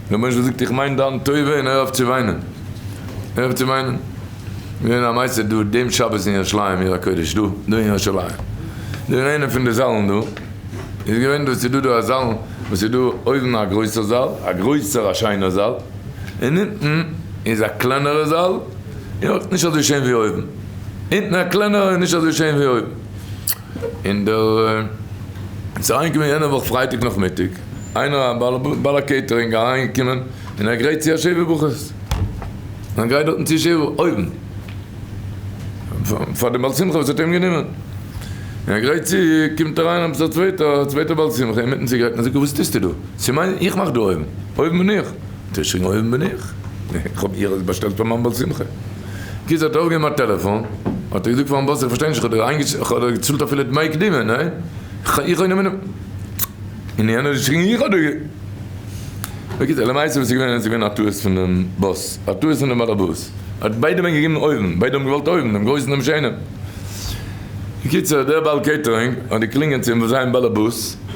דער מושל זאגט איך מיין דיין טובה און הער אויף צו וויינען, הער אויף צו וויינען. געווען א מעשה דא דעם שבת אין ירושלים עיר הקודש דא דא אין ירושלים, דא אין איינע פון די זאלן דא איז געווען דא ס'איז דא דא א זאלן וואס איז דא אויבן א גרויסער זאל א גרויסער א שיינער זאל און אונטן איז א קלענערע זאל און אויך נישט אזוי שיין ווי אויבן, אונטן א קלענערע און נישט אזוי שיין ווי אויבן. און דער איז אריינגעקומען יענע וואך פרייטאג נאכמיטאג איינער א בעל א קעיטערינג אריינגעקומען און ער גרייט צו א שבעה ברכות און גרייט דארטן צו שבעה אויבן פאר די בעל שמחה וואס האט איהם גענומען און ער גרייט צו קומט אריין עפעס א צווייטער א צווייטער בעל שמחה אינמיטן צו גרייטן און זאגט וואס טוסטו דא ס'מיין איך מאך דא אויבן אויבן בין איך. תשרי אויבן בין איך, איך האב איהר עס באשטעלט פאר מיין בר שמחה. קיצור האט ער אויפגעהויבן א טעלעפאן, האט ער געזאגט פארן באס איך פארשטיי נישט איך האב דיר געצאלט אפילו דמי קדימה, ניין? איך האב גענומען און יענער האט געשריגן איך האב דיר גע. בקיצור למעשה וואס איז געווען איז געווען א טעות פונעם באס, א טעות פונעם בעל הבית, ער האט ביידע ווען געגעבן אויבן, ביידע האבן געוואלט אויבן, דעם גרויסן דעם שענעם. בקיצור דער בעל קעיטערינג האט געקלינגען צום זיין בעל הבית,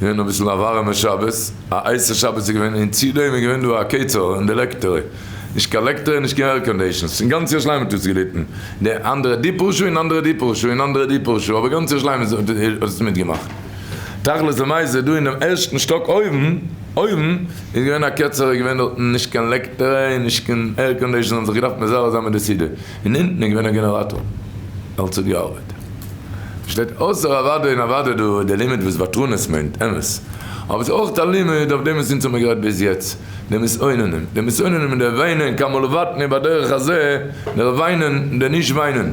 געווען אביסל א ווארעמע שבת, א הייסע שבת איז געווען, און צו דעם איז געווען דא א קעצער אין די לעקטערי, נישט קיין לעקטערי און נישט קיין עירקאנדעישאנס, און גאנץ ירושלים האט עס געליטן, די אנדערע די פאר שעה און אנדערע די פאר שעה און אנדערע די פאר שעה, אבער גאנץ ירושלים האט עס מיטגעמאכט. תכלית למעשה דא אינעם ערשטן שטאק אויבן אויבן איז געווען א קעצער איז געווען דארטן נישט קיין לעקטערי און נישט קיין עירקאנדעישאנס האבן זיך געדארפט מזרז זיין מיט די סידור, און אונטן איז געווען א גענעראטאר, אלץ האט געארבעט. שטייט אויסער אוודאי און אוודאי דא איז דער לימוד וואס וואטראנעס מיינט אמת, אבער עס איז אויך א לימוד אויף דעם וואס אונז האמיר גערעדט ביז יעצט, די מסוננים, די מסוננים און די וויינען כמה לבטן איבער הדרך הזה, דער וויינען און דער נישט וויינען.